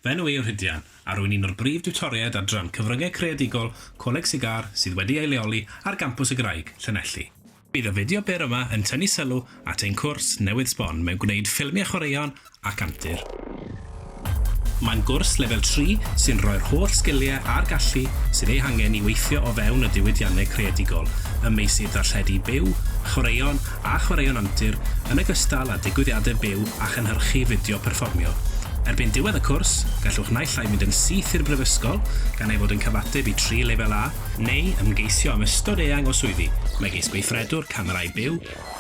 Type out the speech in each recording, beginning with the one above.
Fy enw i yw Rhydian, a rwy'n un o'r brif diwtoriaid adran Cyfryngau Creadigol Coleg Sir Gâr sydd wedi ei leoli ar Gampws y Graig, Llanelli. Bydd y fideo byr yma yn tynnu sylw at ein cwrs newydd sbon mewn gwneud ffilmiau chwaraeon ac antur. Mae'n gwrs lefel tri sy'n rhoi'r holl sgiliau a'r gallu sydd eu hangen i weithio o fewn y diwydiannau creadigol ym meysydd darlledu byw, chwaraeon a chwaraeon antur yn ogystal â digwyddiadau byw a chynhyrchu fideo perfformio. Erbyn diwedd y cwrs, gallwch naill ai fynd yn syth i'r Brifysgol, gan ei fod yn cyfateb i tri lefel A, neu ymgeisio am ystod eang o swyddi, megis gweithredwr camerâu byw,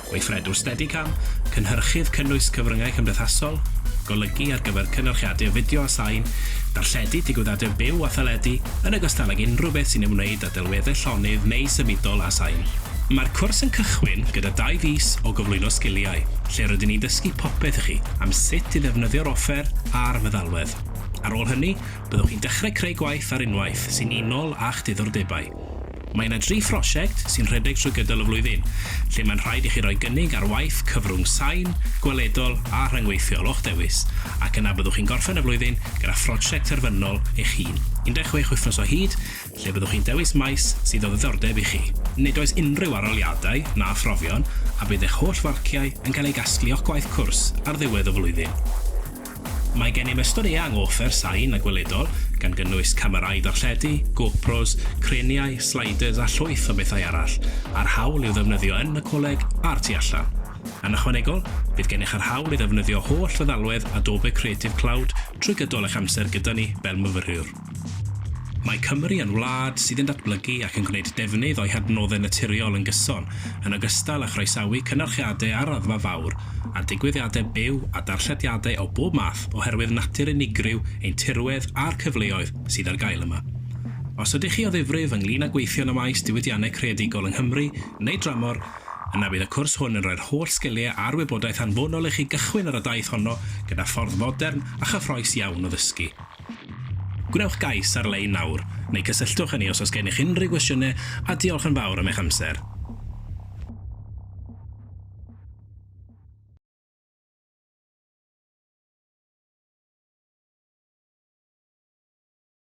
Gweithredwr Steadicam, cynhyrchydd cynnwys cyfryngau cymdeithasol, golygu ar gyfer cynyrchiadur fideo a sain, darlledu digwyddiadau byw a theledu, yn ogystal ag unrhyw beth sy'n ymwneud â delweddau llonydd neu symudol a sain. Mae'r cwrs yn cychwyn gyda dau fis o gyflwyno sgiliau, lle rydyn ni'n dysgu popeth i chi am sut i ddefnyddio'r offer a'r feddalwedd. Ar ôl hynny, byddwch chi'n dechrau creu gwaith ar unwaith sy'n unol â'ch diddordebau. Mae yna dri phrosiect sy'n rhedeg trwy gydol y flwyddyn, lle mae'n rhaid i chi roi gynnig ar waith cyfrwng sain, gweledol a rhyngweithiol o'ch dewis, ac yna byddwch chi'n gorffen y flwyddyn gyda phrosiect terfynol eich hun, 16 wythnos o hyd, lle byddwch chi'n dewis maes sydd o ddiddordeb i chi. Nid oes unrhyw arholiadau na phrofion, a bydd eich holl farciau yn cael eu casglu o'ch gwaith cwrs ar ddiwedd y flwyddyn. Mae gennym ystod eang o offer sain a gweledol, gan gynnwys camerâu darlledu, GoPros, creniau, sliders a llwyth o bethau arall, a'r hawl i'w ddefnyddio yn y coleg a'r tu allan. Yn ychwanegol, bydd gennych yr hawl i ddefnyddio holl feddalwedd Adobe Creative Cloud trwy gydol eich amser gyda ni fel myfyriwr. Mae Cymru yn wlad sydd yn datblygu ac yn gwneud defnydd o'i hadnoddau naturiol yn gyson, yn ogystal â chroesawu cynyrchiadau ar raddfa fawr a digwyddiadau byw a darllediadau o bob math oherwydd natur unigryw ein tirwedd a'r cyfleoedd sydd ar gael yma. Os ydych chi o ddifrif ynglŷn â gweithio yn y maes diwydiannau creadigol yng Nghymru neu dramor, yna bydd y cwrs hwn yn rhoi'r holl sgiliau a'r wybodaeth anfonol i chi gychwyn ar y daith honno gyda ffordd fodern a chyffrous iawn o ddysgu. Gwnewch gais ar-lein nawr, neu cysylltwch â ni os oes gennych unrhyw gwestiynau, a diolch yn fawr am eich amser.